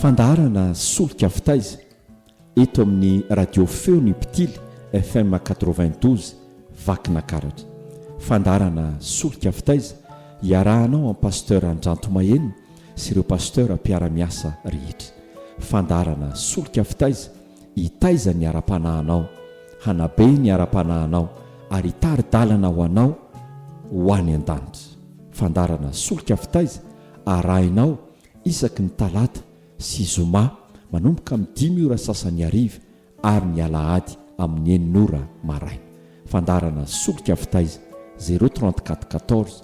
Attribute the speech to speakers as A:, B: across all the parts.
A: Fandaharana solika fitaiza eto amin'ny radio feo ny mpitily FM quatre-vingt douze Vakinakaratra. Fandaharana solika fitaiza iarahanao amin'i Pasteur Andranto Maheno sy ireo Pasteur mpiara-miasa rehetra. Fandaharana solika fitaiza hitaiza ny ara-panahinao, hanabe ny ara-panahinao, ary hitari-dalana ho anao ho any an-danitra. Fandaharana Solika Fitaiza arahinao isaky ny talata sy zoma manomboka amin'ny dimy ora sasany hariva ary ny alahady amin'ny enina ora maraina. Fandaharana Solika Fitaiza, zero trente quatre quatorze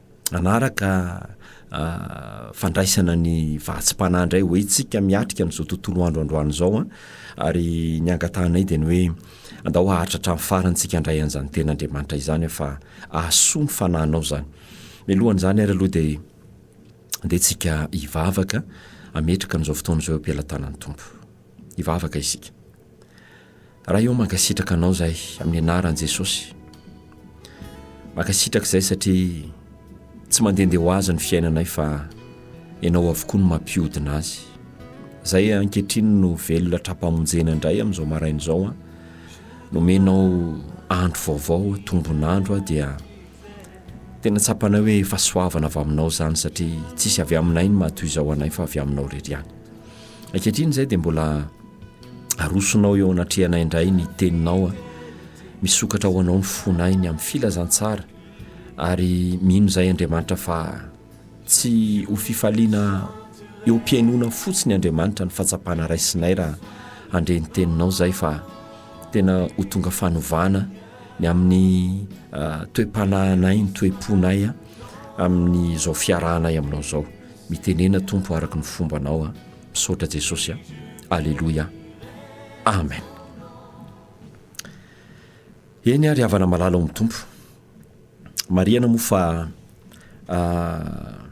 A: hanaraka fandraisana ny vahatsi-panahy indray hoe tsika miatrika an'izao tontolo andro androany izao an, ary ny angatahanay dia ny hoe andao haharitra hatramin'ny farany tsika handray an'izany tenin'Andriamanitra izany an, fa ahasoa ny fanahinao izany. Mialoha an'izany ary aloha dia andeha tsika hivavaka hametraka an'izao fotoana izao eo am-pelatanan'ny Tompo. Hivavaka isika. Ray ô mankasitraka anao zay amin'ny anaran'i Jesosy. Mankasitraka izay satria tsy mandehandeha ho azy ny fiainanay fa ianao avokoa no mampihodina azy. Zay ankehitriny no velona tra-pamonjena indray amin'izao maraina izao an. Nomenao andro vaovao, tombon'andro aho dia tena tsapanay hoe fahasoavana avy aminao izany satria tsisy avy aminay ny mahatoy izao anay fa avy aminao irery ihany. Ankehitriny izay dia mbola arosonao eo anatrehanay indray ny teninao a. Misokatra ho anao ny fonay ny amin'ny filazantsara ary mino izay Andriamanitra fa tsy ho fifaliana eo am-pihainoana fotsiny Andriamanitra ny fahatsapana raisinay raha handre ny teninao izay fa tena ho tonga fanovana ny amin'ny toe-panahinay, ny toe-ponay a, amin'izao fiarahanay aminao izao. mitenena tompo araka ny fombanao a misaotra jesosy a aleloia amen eny ary havana malala ao amin'ny tompo mariana moa fa ah,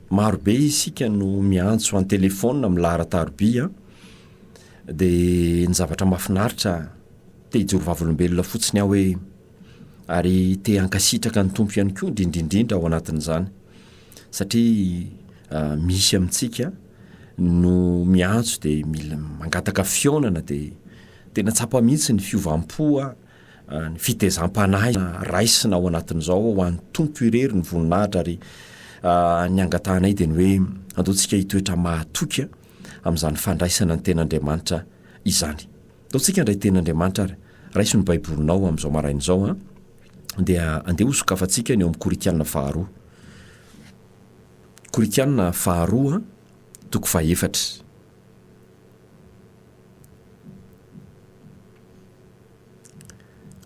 A: marobe isika no miantso any telefona milaharataroby a dia ny zavatra mafinaritra te hijorovavolombelona fotsiny aho hoe Ary te hankasitraka ny Tompo ihany koa indrindrindrindra ao anatin'izany. Satria misy amintsika no miantso dia mila mangataka fihaonana dia tena tsapa mihitsy ny fiovam-po ny fitezam-panahy raisina ao anatin'izao ho an'ny Tompo irery ny voninahitra ary ny angatahanay dia ny hoe andeontsika hitoetra mahatoky amin'izany fandraisana ny ten'Andriamanitra izany. Ataontsika indray teny Andriamanitra ary. Raiso ny Baibolinao amin'izao maraina izao an, dia andeha hosokafantsika ny ao amin'ny Korintiana faharoa. Korintiana faharoa, toko fahefatra.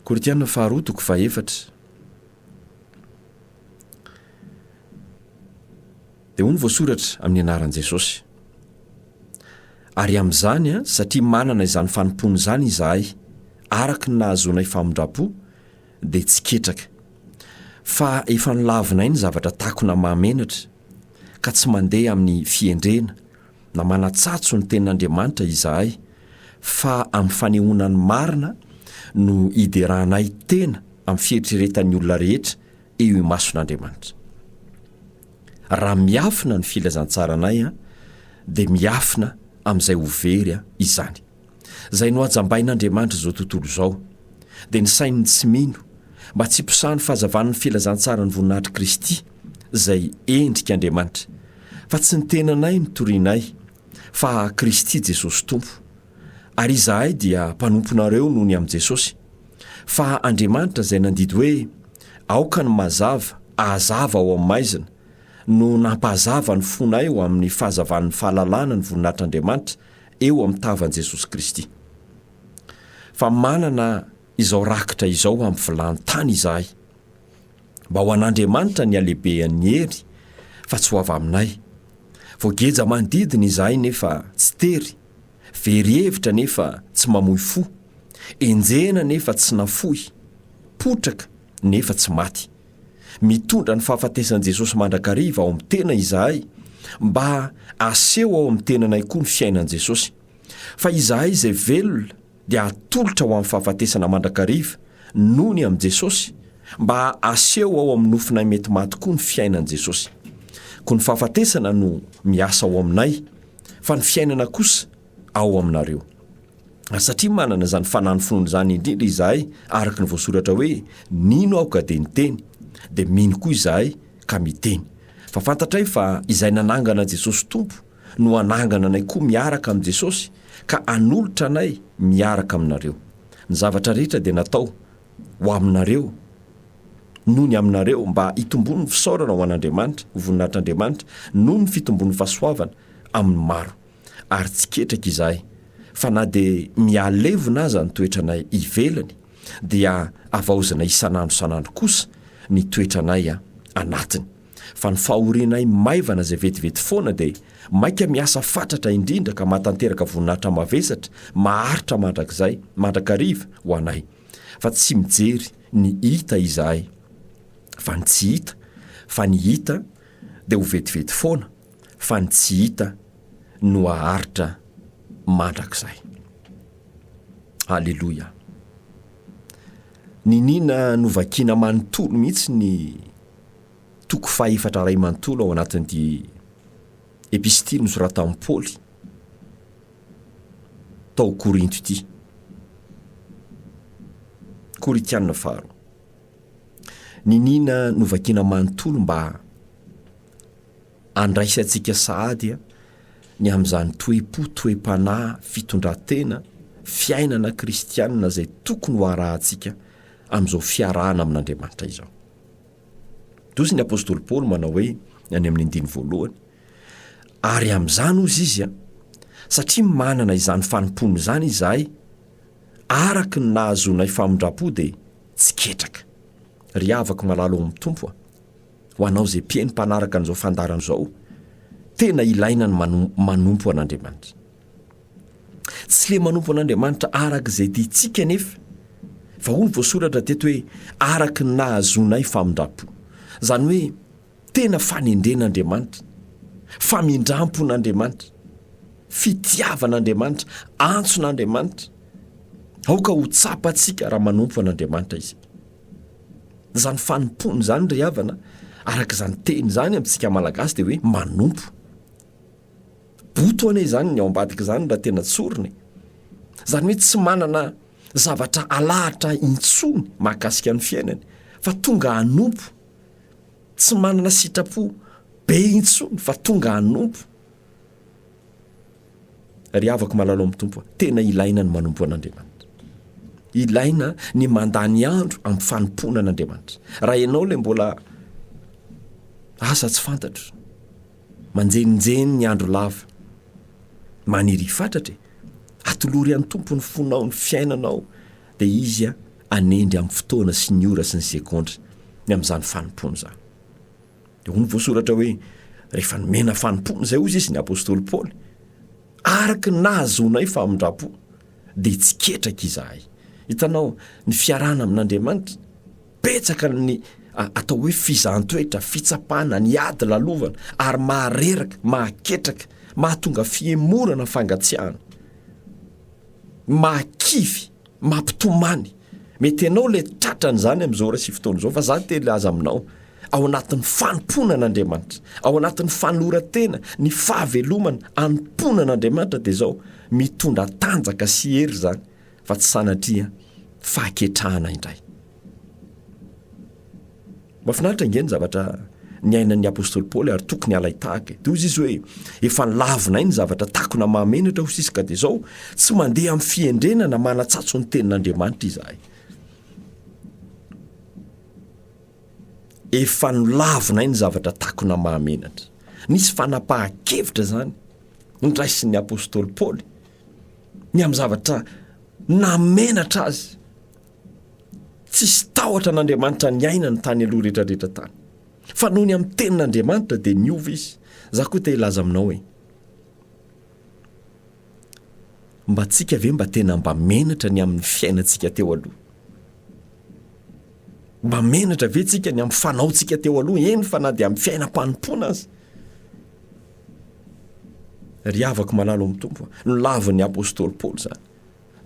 A: Korintiana faharoa, toko fahefatra. Dia hoy ny voasoratra, Amin'ny anaran'i Jesosy. Ary amin'izany, satria manana izany fanompoana izany izahay, araka ny nahazoanay famindram-po, dia tsy ketraka. Fa efa nolavinay ny zavatra takona mahamenatra, ka tsy mandeha amin'ny fihendrena, na manatsatso ny Tenin'Andriamanitra izahay, fa amin'ny fanehoana ny marina no ideranay tena amin'ny fieritreretan'ny olona rehetra eo imason'Andriamanitra. Raha miafina ny filazantsaranay an, dia miafina amin'izay ho very an, izany. Izay nohajambain'Andriamanitra izao tontolo izao, dia ny sain'ny tsy mino, mba tsy hiposahan'ny fahazavan'ny filazantsaran'ny voninahitr'i Kristy, izay endrik'Andriamanitra. Fa tsy ny tenanay no torianay, fa Kristy Jesosy Tompo. Ary izahay dia mpanomponareo noho ny amin'i Jesosy. Fa Andriamanitra izay nandidy hoe, Aoka ny mazava ahazava ao amin'ny maizina, no nampahazava ny fonay ho amin'ny fahazavan'ny fahalalana ny voninahitr'Andriamanitra eo amin'ny tavan'i Jesosy Kristy. Fa manana Izao rakitra izao amin'ny vilany tany izahay, mba ho an'Andriamanitra ny halehibehan'ny hery, fa tsy ho avy aminay. Voageja manodidina izahay nefa tsy tery, very hevitra nefa tsy mamoy fo, enjehina nefa tsy nafoy, potraka nefa tsy maty. Mitondra ny fahafatesan'i Jesosy mandrakariva ao amin'ny tena izahay, mba haseho ao amin'ny tenanay koa ny fiainan'i Jesosy, fa izahay izay velona dia hatolotra ho amin'ny fahafatesana mandrakariva nony amin'i Jesosy mba haseho ao amin'ny nofinay mety maty koa ny fiainan'i Jesosy. Koa ny fahafatesana no miasa ao aminay, fa ny fiainana kosa ao aminareo. Ary satria manana izany fanahin'ny finoana izany indrindra izahay, araka ny voasoratra hoe, Nino aho ka dia niteny, dia mino koa izahay ka miteny. Fa fantatray fa izay nanangana Jesosy Tompo, no hanangana anay koa miaraka amin'i Jesosy ka hanolotra anay miaraka aminareo. Ny zavatra rehetra dia natao ho aminareo noho ny aminareo mba hitomboan'ny fisaorana ho an'Andriamanitra, ho voninahitr'Andriamanitra, noho ny fitombon'ny fahasoavana amin'ny maro. Ary tsy ketraka izahay fa na dia mihalevona aza ny toetranay ivelany dia havaozinay isan'andro isan'andro kosa ny toetranay anatiny. fa ny fahorianay maivana izay vetivety foana dia maika miasa fatratra indrindra ka mahatanteraka voninahitra mavesatra maharitra mandrakizay mandrakariva ho anay fa tsy mijery ny hita izahay fa ny tsy hita fa ny hita dia ho vetivety foana fa ny tsy hita no haharitra mandrakizay aleloia niniana novakina manontolo mihitsy ny toko fahefatra iray manontolo ao anatin'ity epistily nosoratan'i Paoly tao Korinto ity. Korintianina faharoa. Niniana novakiana manontolo mba andraisantsika sahady ny amin'izany toe-po, toe-panahy, fitondran-tena, fiainana kristianina izay tokony ho arahantsika amin'izao fiarahana amin'Andriamanitra izao. Dosy ny apostoly Paoly manao hoe any amin'ny andiny voalohany, ary amin'izany ozy izy a, satria manana izany fanompoana izany izahay, araka ny nahazoanay famindram-po dia tsy ketraka. Ry havako malala ao amin'ny Tompo a, ho anao izay mpino mpanaraka an'izao fandaharana izao, tena ilaina ny manompo an'Andriamanitra. Tsy le manompo an'Andriamanitra araka izay tiantsika anefa, fa hoy ny voasoratra teto hoe araka ny nahazoanay famindrampo. Izany hoe tena fanendren'Andriamanitra, famindrampon'Andriamanitra, fitiavan'Andriamanitra, antson'Andriamanitra. Aoka ho tsapantsika raha manompo an'Andriamanitra isika. Izany fanompoana izany ry havana, araka izany teny izany amintsika Malagasy dia hoe manompo. Boto anie izany ny ao ambadika izany raha tena tsorina e! Izany hoe tsy manana zavatra alahatra intsony mahakasika ny fiainany fa tonga hanompo, tsy manana sitrapo be intsony fa tonga hanompo. Ry havako malala ao amin'ny Tompo a, tena ilaina ny manompo an'Andriamanitra. Ilaina ny mandany andro amin'ny fanompoana an'Andriamanitra. Raha ianao ilay mbola asa tsy fantatro, Manjeninjeny ny andro lava. Maniry hifatratra e! Atolory an'i Tompo ny fonao, ny fiainanao, dia Izy hanendry amin'ny fotoana sy ny ora sy ny segondra ny amin'izany fanompoana izany. Dia hoy ny voasoratra hoe, rehefa nomena fanompoana izay, hoy izy ny apostoly Paoly, araka ny nahazoanay famindram-po, dia tsy ketraka izahay. Hitanao, ny fiarahana amin'Andriamanitra, Betsaka ny atao hoe fizahan-toetra, fitsapana, ny ady lalovana ary mahareraka, mahaketraka, mahatonga fihemorana, fangatsiahana, mahakivy, mampitomany. Mety ianao ilay tratra an'izany amin'izao ora sy fotoana izao fa za te hilaza aminao, ao anatin'ny fanompoana an'Andriamanitra, ao anatin'ny fanoloran-tena, ny fahavelomana anompoana an'Andriamanitra dia izao, mitondra tanjaka sy hery izany. fa tsy sanatria fahaketrahana indray. Mafinaritra ange ny zavatra niainan'ny apostoly Paoly ary tokony halaitahaka e. Dia hoy izy hoe efa nilavinay ny zavatra takona mahamenatra ho sisika dia izao tsy mandeha amin'ny fihendrena na manatsatso ny tenin'Andriamanitra izahay. Efa nilavinay ny zavatra takona mahamenatra. Nisy fanapahan-kevitra izany ndraisin'ny apostoly Paoly ny amin'ny zavatra namenatra azy tsisy tahotra an'andriamanitra ny ainany tany aloha rehetrarehetra tany fa noho ny amin'ny tenin'andriamanitra dia niova izy za koa te hilaza aminao e mba tsika ve mba tena mba menatra ny amin'ny fiainantsika teo aloha mba menatra ve tsika ny amin'ny fanaontsika teo aloha eny fa na dia amin'ny fiainam-panompoana azy Ry havako malala ao amin'ny Tompo a! nolavin'ny apostoly Paoly izany.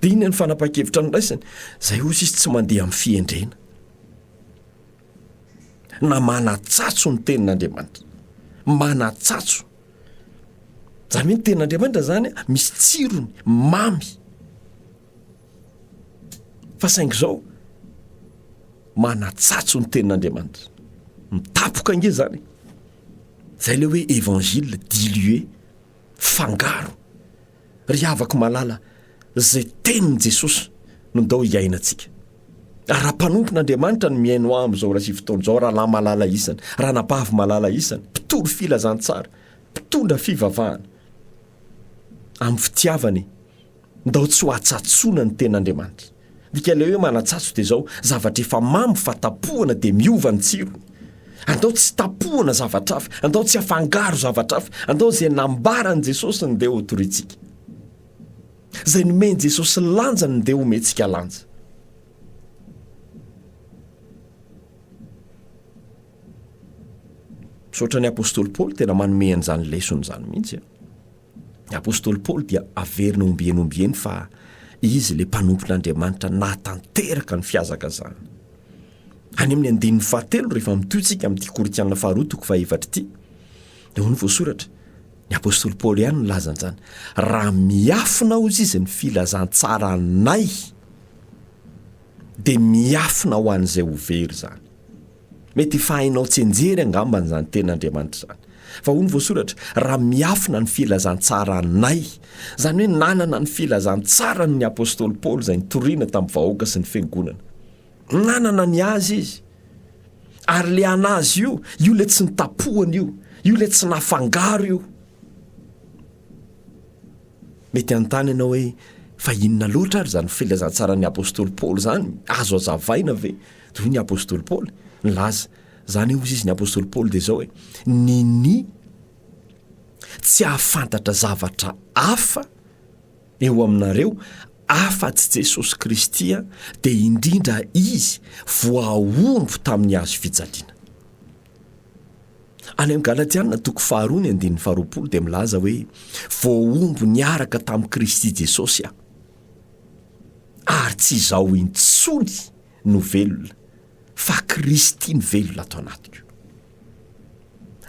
A: Dia inona ny fanapahan-kevitra noraisiny? Izay hoy izy tsy mandeha amin'ny fihendrena na manatsatso ny tenin'Andriamanitra. Manatsatso. Izany hoe ny tenin'Andriamanitra izany misy tsirony, mamy. Fa saingy izao, manatsatso ny tenin'Andriamanitra. Mitapoka ange zany. Zay le hoe évangile dilué, fangaro. Ry havako malala, zay tenin'i Jesosy no ndao hiainantsika. Ary raha mpanompon'Andriamanitra ny mihaino ahy amin'izao iray sy sivy taona izao, rahalahy malala isany, ranabavy malala isany, mpitory filazantsara, mpitondra fivavahana, amin'ny fitiavana e. Ndao tsy ho atsatsoana ny tena Andriamanitra. Midika ilay hoe manatsatso dia izao, zavatra efa mamy fa tapohana dia miova ny tsirony. Andao tsy tapohana zavatra hafa, andao tsy afangaro zavatra hafa, andao izay nambaran'i Jesosy ny dia ho torintsika. Izay nomen'i Jesosy lanja ny dia homentsika lanja. Misaotra ny apostoly Paoly tena manome an'izany lesona izany mihitsy. Ny apostoly Paoly dia averina ombieny ombieny fa izy ilay mpanompon'Andriamanitra nahatanteraka ny fihazakazahana. Any amin'ny andininy fahatelo rehefa mitohy isika amin'ity Korintiana faharoa toko fahefatra ity, dia hoy ny voasoratra, ny apostoly Paoly ihany no nilaza an'izany, raha miafina hozy izy ny filazantsaranay dia miafina ho an'izay ho very izany. Mety efa hainao tsianjery angambany izany tenin'Andriamanitra izany. Fa hoy ny voasoratra, raha miafina ny filazantsaranay. Izany hoe nanana ny filazantsarany ny apostoly Paoly izay nitoriana tamin'ny vahoaka sy ny fiangonana. Nanana ny azy izy. Ary le anazy io, io le tsy nitapohana io, io le tsy nafangaro io. Mety hanontany ianao hoe, Fa inona loatra ary izany filazantsaran'ny apostoly Paoly izany? Azo hazavaina ve? Dia hoy ny apostoly Paoly, nilaza izany hozy izy ny apostoly Paoly dia izao e, ny ny tsy hahafantatra zavatra hafa eo aminareo afa-tsy Jesosy Kristy dia indrindra Izy voahombo tamin'ny hazo fijaliana. Any amin'ny Galatiana toko faharoa ny andininy faharoapolo dia milaza hoe, voahombo niaraka tamin'i Kristy Jesosy aho, ary tsy izaho intsony no velona, fa Kristy mivelona ato anatiko.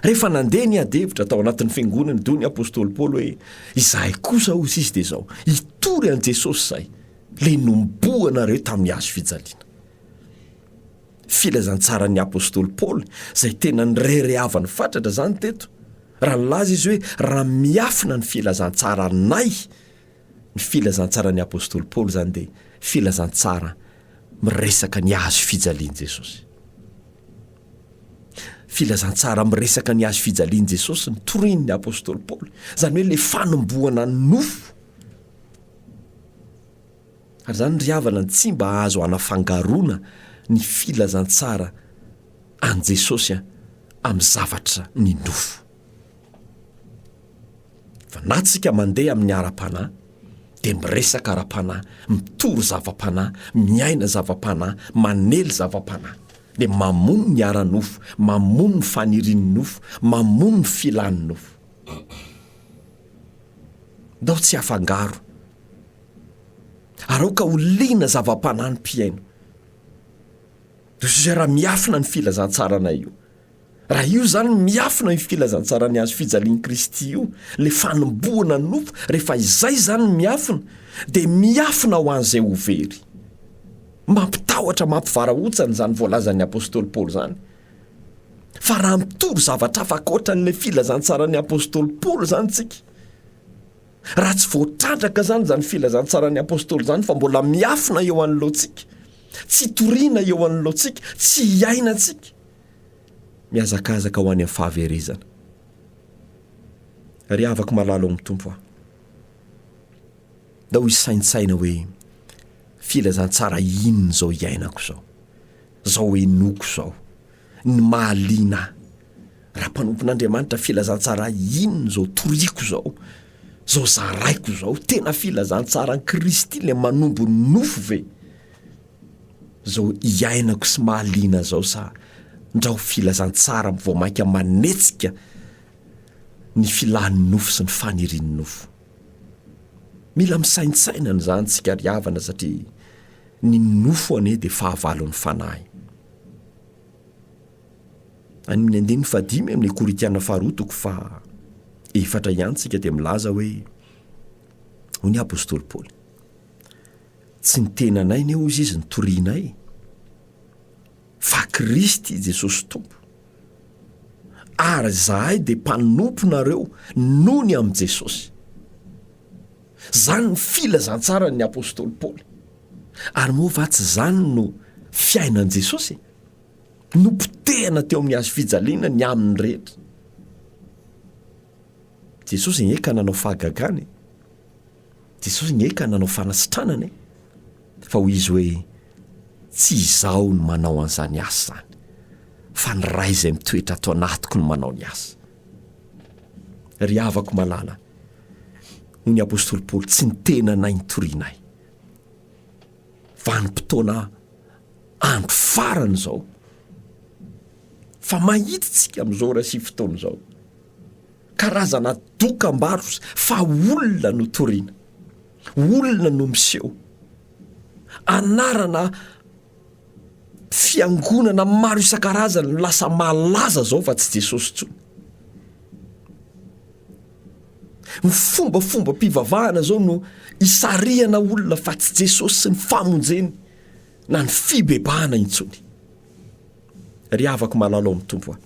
A: Rehefa nandeha ny adihevitra tao anatin'ny fiangonany toy ny apostoly Paoly hoe, izahay kosa hoy izy dia izao, hitory an'i Jesosy izay, le nomboanareo tamin'ny hazo fijaliana. Filazantsaran'ny apostoly Paoly izay tena nireharehavany fatratra izany teto, raha nilaza izy hoe, Raha miafina ny filazantsaranay. Ny filazantsaran'ny apostoly Paoly izany dia filazantsara miresaka ny hazo fijalian'i Jesosy. Filazantsara miresaka ny hazo fijalian'i Jesosy ny torian'ny apostoly Paoly, izany hoe ilay fanomboana ny nofo. Ary zany ry havana tsy mba azo anafangaroana ny filazantsara an'i Jesosy an, amin'ny zavatra ny nofo. Fa na tsika mandeha amin'ny ara-panahy, dia miresaka ara-panahy, mitory zava-panahy, miaina zava-panahy, manely zava-panahy. Dia mamono ny ara-nofo, mamono ny fanirian'ny nofo, mamono ny filan'ny nofo. Ndao tsy hafangaro. Araoka ho liana zava-panahy ny mpihaino. Ry raha miafina ny filazantsaranay io. Raha io izany miafina io filazantsara ny hazo fijalian'i Kristy io, ilay fanombohana ny nofo, rehefa izay izany ny miafina, dia miafina ho an'izay ho very. Mampitahotra, mampivarahontsana izany voalazan'ny apostoly Paoly izany. Fa raha mitory zavatra hafa ankoatra an'ilay filazantsaran'ny apostoly Paoly izany isika, Raha tsy voatrandraka izany izany filazantsaran'ny Apostoly izany fa mbola miafina eo anoloantsika, tsy itoriana eo anoloantsika, tsy iainantsika, mihazakazaka ho any amin'ny fahaverezana. Ry havako malala ao amin'ny Tompo a! Ndao hisaintsaina hoe filazantsara inona izao iainako izao, izao henoiko izao. ny mahaliana ahy. Raha mpanompon'Andriamanitra filazantsara inona izao toriako izao, izao zaraiko izao? Tena filazantsaran'i Kristy ilay manombo ny nofo ve izao iainako sy mahaliana ahy izao sa ndra ho filazantsara vao mainka manetsika ny filàn'ny nofo sy ny fanirian'ny nofo? Mila misaintsaina an'izany isika ry havana satria ny nofo anie dia fahavalon'ny fanahy. Any amin'ny andininy fahadimy amin'ny Korintiana faharoa toko faha efatra ihany tsika dia milaza hoe hoy ny apostoly Paoly. Tsy ny tenanay anie hoy izy ny torianay fa Kristy Jesosy Tompo. Ary zahay dia mpanomponareo noho ny amin'i Jesosy. Zany ny filazantsaran'ny apostoly Paoly. Ary moa va tsy izany no fiainan'i Jesosy? Nopotehina teo amin'ny hazo fijaliana ny aminy rehetra. Jesosy nge ka nanao fahagagana e! Jesosy nge ka nanao fanasitranana e! Fa hoy izy hoe, Tsy izaho no manao an'izany asa izany, fa ny Ray izay mitoetra ato anatiko no manao ny asa. Ry havako malala, hoy ny apostoly Paoly, tsy ny tenanay no torianay, vanim-potoana andro farany izao. Fa mahita isika amin'izao ora sy fotoana izao, karazana dokam-barotra fa olona no toriana, olona no miseho, anarana. Fiangonana maro isan-karazany no lasa malaza zao fa tsy Jesosy intsony. Ny fombafombam-pivavahana zao no isarihana olona fa tsy Jesosy sy ny famonjeny na ny fibebahana intsony. Ry havako malalo ao amin'ny Tompo a!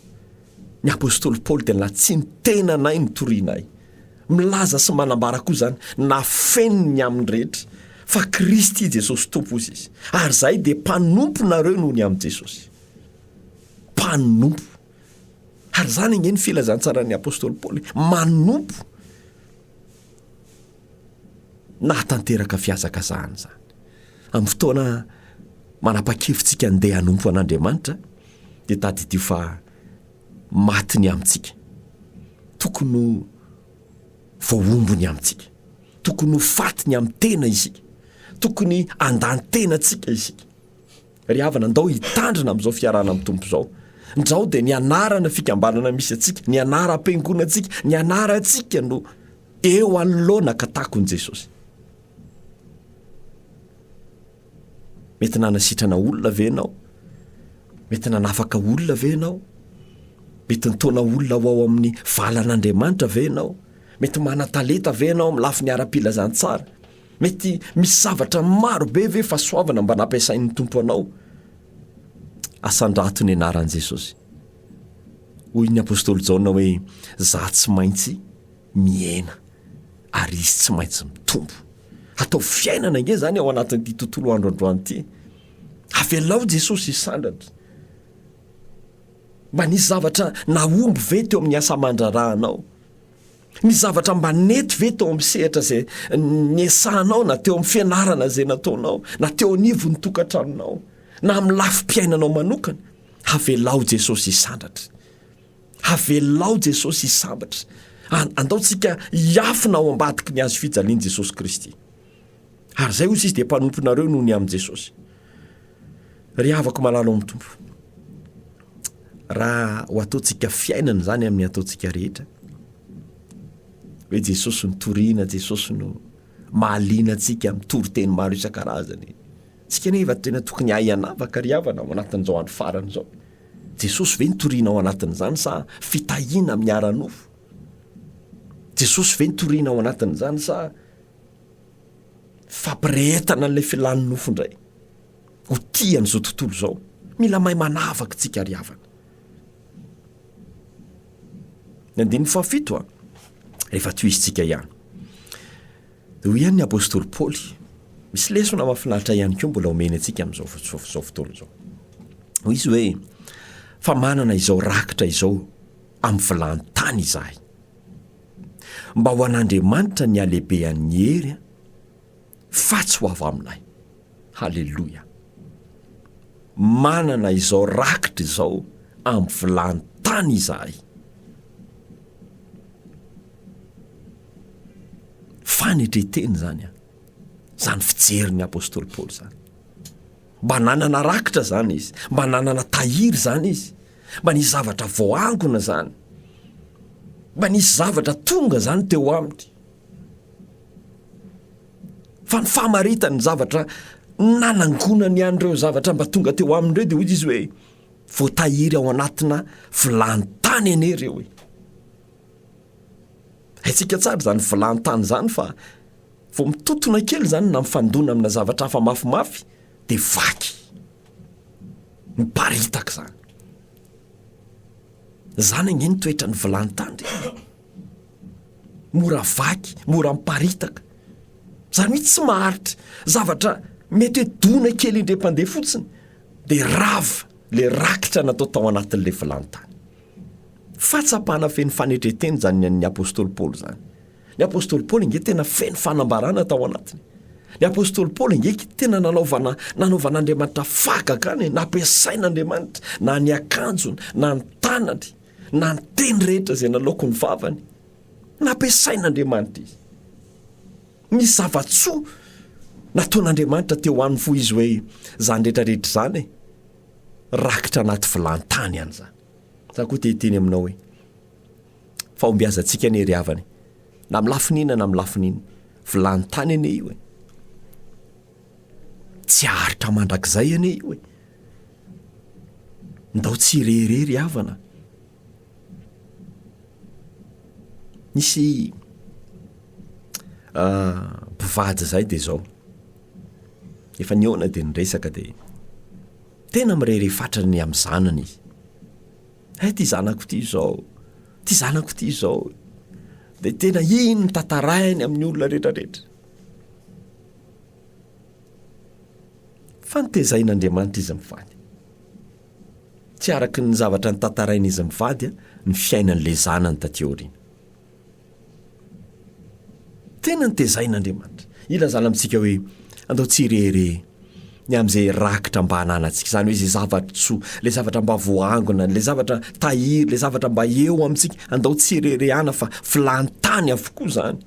A: Ny apostoly Paoly dia nantsintenanay ny torianay. Milaza sy manambara koa izany na feno ny amin'ny rehetra fa Kristy Jesosy Tompo, hoy izy, ary izahay dia mpanomponareo noho ny amin'i Jesosy. Mpanompo. Ary izany ange ny filazantsaran'ny apostoly Paoly, manompo. nahatanteraka fihazakazahana izany. Amin'ny fotoana manapa-kevitsika handeha hanompo an'Andriamanitra, dia tadidio fa maty ny amintsika. Tokony ho voahombo ny amintsika. Tokony ho faty ny amin'ny tena isika. Tokony handan-tena antsika isika. Ry havana, ndao hitandrina amin'izao fiarahana amin'ny Tompo izao. Ndao dia ny anarana fikambanana misy antsika, ny anaram-piangonantsika, ny anarantsika no eo anoloana ka takon'i Jesosy. Mety nanasitrana olona ve ianao? Mety nanafaka olona ve ianao? Mety nitaona olona ho ao amin'ny valan'Andriamanitra ve ianao? Mety manan-talenta ve ianao amin'ny lafiny ara-pilazantsara? Mety misy zavatra maro be ve fasoavana mba nampiasain'ny Tompo anao? Asandrato ny anaran'i Jesosy. Hoy ny apostoly Jaona hoe za tsy maintsy mihena ary izy tsy maintsy mitombo. Atao fiainana ange zany ao anatin'ity tontolo andro androany ity. Avelao Jesosy hisandratra. Mba nisy zavatra nahomby ve teo amin'ny asa aman-drarahanao? Misy zavatra mba nety ve tao amin'ny sehatra izay niesahanao na teo amin'ny fianarana izay nataonao na teo anivon'ny tokantranonao na amin'ny lafim-piainanao manokana? Havelao Jesosy hisandratra. Havelao Jesosy hisambatra. Andaontsika hiafina ao ambadiky ny hazo fijalian'i Jesosy Kristy. ary zay ozy izy de mpanomponareo noho ny amin'i Jesosy. Ry havako malalo amin'ny Tompo, raha ho ataontsika fiainana zany amin'ny ataontsika rehetra, hoe Jesosy no torina, Jesosy no mahaliana antsika mitory teny maro isan-karazany. Tsika nefa tena tokony ahy anavaka ry havana ao anatin'izao andro farany izao. Jesosy ve nitoriana ao anatin'izany sa fitahiana amin'ny ara-nofo? Jesosy ve nitoriana ao anatin'izany sa Fampirehetana an'ilay filàn'ny nofo indray ho tia an'izao tontolo izao. Mila mahay manavaka tsika ry havana. Ny andininy fahafito a, rehefa tohizintsika ihany. Dia hoy ihany ny apostoly Paoly, misy lesona mahafinaritra ihany koa mbola omeny antsika amin'izao izao fotoana izao. Hoy izy hoe, fa manana izao rakitra izao amin'ny vilany tany izahay. Mba ho an'Andriamanitra ny halebehan'ny hery an! fa tsy ho avy aminay. Haleloia! Manana izao rakitra izao amin'ny vilany tany izahay. Fanetren-tena izany an! Izany fijerin'ny apostoly Paoly izany. Mba nanana rakitra izany izy. Mba nanana tahiry izany izy. Mba nisy zavatra voaangona izany. Mba nisy zavatra tonga izany teo aminy. Fa ny famaritany ny zavatra nanangonany an'ireo zavatra mba tonga teo aminy ireo dia hoy izy hoe voatahiry ao anatina vilany tany anie ireo e. Haintsika tsara izany vilany tany izany fa Vao mitontona kely izany na mifandona amina zavatra hafa mafimafy dia vaky. Miparitaka izany. Izany ange ny toetran'ny vilany tandrika. Mora vaky, mora miparitaka. Izany hoe tsy maharitra. Zavatra mety hoe dona kely indrem-pandeha fotsiny dia rava le rakitra natao tao anatin'ilay vilany tany. Fahatsapana feno fanetren-tena izany ny an'ny apostoly Paoly izany. Ny apostoly Paoly ange tena feno fanambarana tao anatiny. Ny apostoly Paoly ange tena nanaovana nanaovan'Andriamanitra fahagagana e, nampiasain'Andriamanitra na ny akanjony na ny tanany na ny teny rehetra izay nalaoko ny vavany. Nampiasain'Andriamanitra izy. Ny zava-tsoa nataon'Andriamanitra teo aminy fo izy hoe zany rehetra rehetra zany e, rakitra anaty vilantany ihany zany. Za koa te hiteny aminao hoe. fahombiazantsika anie ry havana e! na amin'ny lafiny inona na amin'ny lafiny inona, vilany tany anie io e! tsy haharitra mandrakizay anie io e! ndao tsy hirehirehy ry havana, nisy mpivady zay de zao, efa nihaona de niresaka de tena mirehirehy fatrany amin'ny zanany izy, Hay ty zanako ty izao, ty zanako ty izao. Dia tena iny no tantarainy amin'ny olona rehetrarehetra. Fa ny tezain'Andriamanitra izy mivady. Tsy araka ny zavatra notantarain'izy mivady ny fiainan'ilay zanany taty aoriana. Tena notezain'Andriamanitra. Ilazana amintsika hoe andao tsy hirehareha ny amin'izay rakitra mba ananantsika, izany hoe izay zava-tsoa, ilay zavatra mba voaangona, ilay zavatra tahiry, ilay zavatra mba eo amintsika. Andao tsy hireharehana fa filany tany avokoa izany.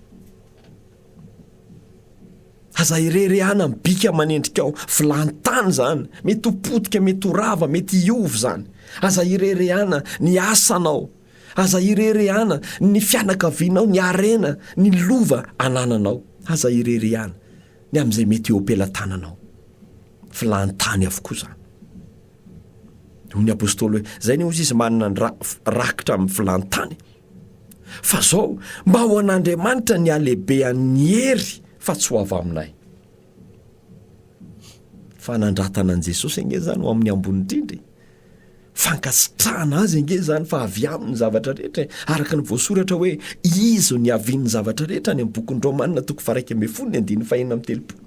A: Aza hireharehana amin'ny bika aman'endrika ao, filany tany izany. Mety ho potika, mety ho rava, mety hiova izany. Aza hireharehana ny asanao. Aza ireharehana ny fianakavianao, ny harena, ny lova anananao. Aza ireharehana ny amin'izay mety eo am-pelatananao. Vilany tany avokoa izany. Hoy ny apostoly hoe, izay anie hozy izy manana ny ra, rakitra amin'ny vilany tany. Fa izao, mba ho an'Andriamanitra ny halehibehan'ny hery fa tsy ho avy aminay. Fanandratana an'i Jesosy ange zany ho amin'ny ambony indrindra e! Fankasitrahana Azy ange zany fa avy Aminy ny zavatra rehetra e! Araka ny voasoratra hoe, Izy no niavian'ny zavatra rehetra, any amin'ny bokin'ny Romana toko faha-iraika ambin'ny folo ny andininy fahenina amby telopolo.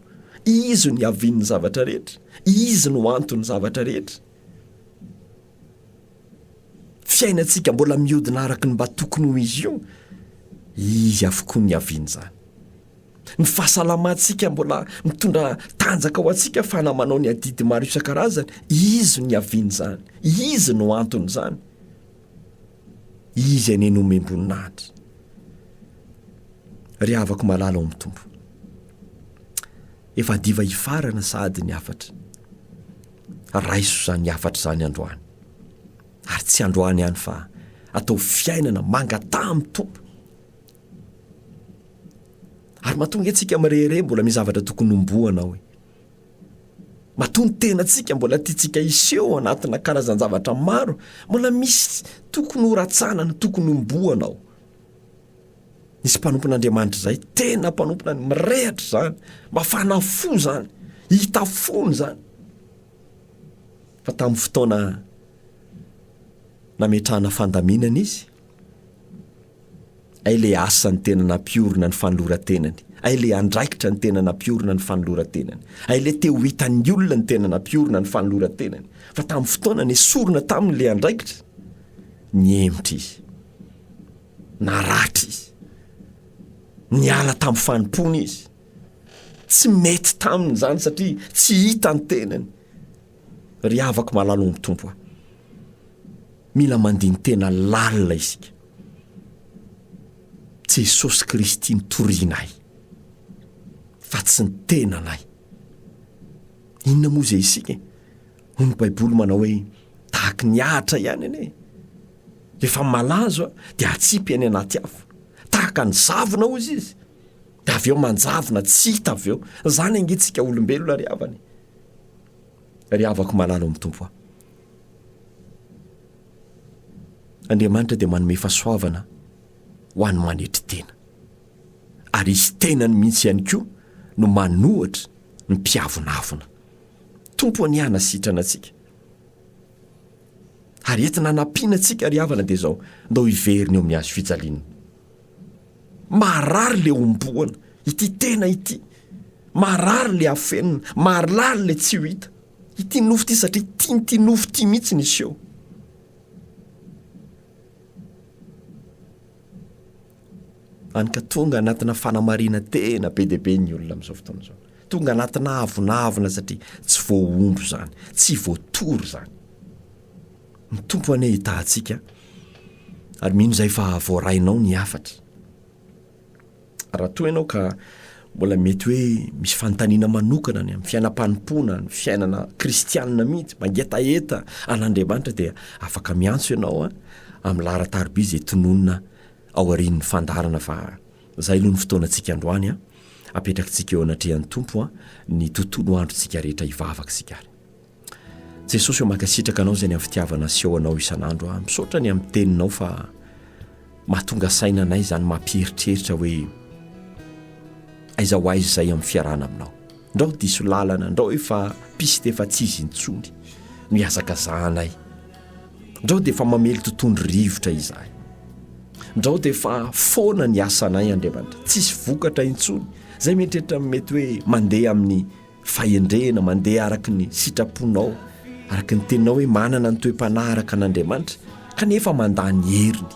A: Izy no niavian'ny zavatra rehetra. Izy no anton'ny zavatra rehetra. Fiainantsika mbola mihodina araka ny mba tokony ho izy io, Izy avokoa no niavian'izany. Ny fahasalamantsika mbola mitondra tanjaka ho antsika fa na manao ny adidy maro isan-karazany, izy no niavian'izany, izy no anton'izany. Izy anie nomem-boninahitra. Ry havako malala ao amin'ny Tompo. Efa diva hifarana sahady ny hafatra. Raiso izany hafatra izany androany. Ary tsy androany ihany fa atao fiainana mangataha amin'ny Tompo. Ary matoa nge tsika mirehireh mbola misy zavatra tokony homboana ao e. Matoa ny tenantsika mbola tiantsika hiseho anatina karazan-javatra maro, mbola misy tokony ho ratsanana, tokony homboana ao. Nisy mpanompon'Andriamanitra izay tena mpanompona ny mirehatra izany, mafana fo izany, hita fony izany. Fa tamin'ny fotoana nametrahana fandaminana izy, Ay le asa ny tena nampiorina ny fanoloran-tenany, ay le andraikitra ny tena nampiorina ny fanoloran-tenany, ay le te ho hitan'ny olona ny tena nampiorina ny fanoloran-tenany, fa tamin'ny fotoana nesorina taminy le andraikitra, nihemotra izy, naratra izy, niala tamin'ny fanompoana izy, tsy mety taminy zany satria tsy hita ny tenany, ry havako malala omy tompo a. Mila mandini-tena lalina isika. Jesosy Kristy no torianay fa tsy ny tenanay. Inona moa izay isika e? Hoy ny Baiboly manao hoe, Tahaky ny ahitra ihany anie. Rehefa malazo dia atsipy any anaty afo. Tahaka ny zavona hozy izy. Dia avy eo manjavona, tsy hita avy eo. Izany ange tsika olombelona ry havana e. Ry havako malala ao amin'ny Tompo a! Andriamanitra dia manome fahasoavana ho an'ny manetry tena. Ary izy tenany mihitsy ihany koa no manohatra ny mpiavonavona. Tompo anie hanasitrana antsika. Ary entina hanampiana antsika ry havana dia izao, ndao hiverina eo amin'ny hazo fijaliana. Marary le homboana ity tena ity, marary le afenina, marlary le tsy ho hita. Ity nofo ity satria tian'ity nofo ity mihitsy ny hiseho. Any ka tonga anatina fanamarina tena be dia be ny olona amin'izao fotoana izao. Tonga anatina avonavona satria tsy voahondro izany, tsy voatory izany. Ny Tompo anie hitahantsika ary mino izay fa voarainao ny hafatra. Raha toa ianao ka mbola mety hoe misy fanontaniana manokana ny amin'ny fiainam-panompoana, ny fiainana kristianina mihitsy, mangetaheta an'Andriamanitra dia afaka miantso ianao a, amin'ny laharan-tariby izay tononina ao aorian'ny fandaharana fa izay aloha ny fotoanantsika androany a, apetrakitsika eo anatrehan'ny Tompo a, ny tontolo androntsika rehetra hivavaka isika ary. Jesosy ô mankasitraka anao izay ny amin'ny fitiavana aseho anao isan'andro aho. Misaotra ny amin'ny teninao fa mahatonga saina anay izany mampieritreritra hoe aiza ho aiza izay amin'ny fiarahana aminao. Ndrao diso lalana, ndrao efa piste efa tsy izy intsony no ihazakazahanay. Ndrao dia efa mamely totohondry rivotra izahay. Ndrao dia efa foana ny asanay Andriamanitra, tsisy vokatra intsony. Izay mieritreritra ny mety hoe mandeha amin'ny fahendrena, mandeha araka ny sitraponao, araka ny teninao hoe manana ny toe-panahy araka an'Andriamanitra, kanefa mandà ny heriny.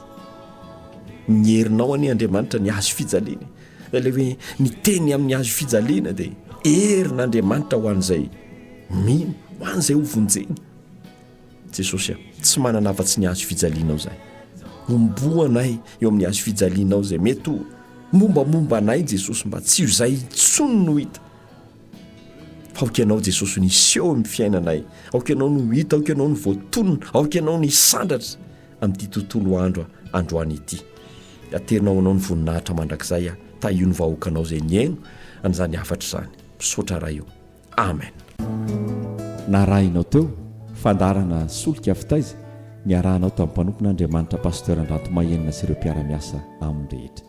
A: Ny herinao anie Andriamanitra ny hazo fijaliany. Dia ilay hoe ny teny amin'ny hazo fijaliana dia herin'Andriamanitra ho an'izay mino, ho an'izay ho vonjeny. Jesosy a, tsy manana afa-tsy ny hazo fijalianao izahay. Homboa anay eo amin'ny hazo fijalianao izay mety ho mombamomba anay Jesosy mba tsy ho izay intsony no hita Aoka Ianao Jesosy no hiseho amin'ny fiainanay, aoka Ianao no hita, aoka Ianao no voatonona, aoka Ianao no hisandratra amin'ity tontolo andro androany ity. Aterinao Anao ny voninahitra mandrakizay aho, tahio ny vahoakanao izay nihaino an'izany hafatra izany. Misaotra Ray o. Amen.
B: Narahinao teo fandaharana solika fitaiza niarahanao tamin'ny mpanompon'Andriamanitra Pasteur Andrantomahenina sy ireo mpiara-miasa aminy rehetra.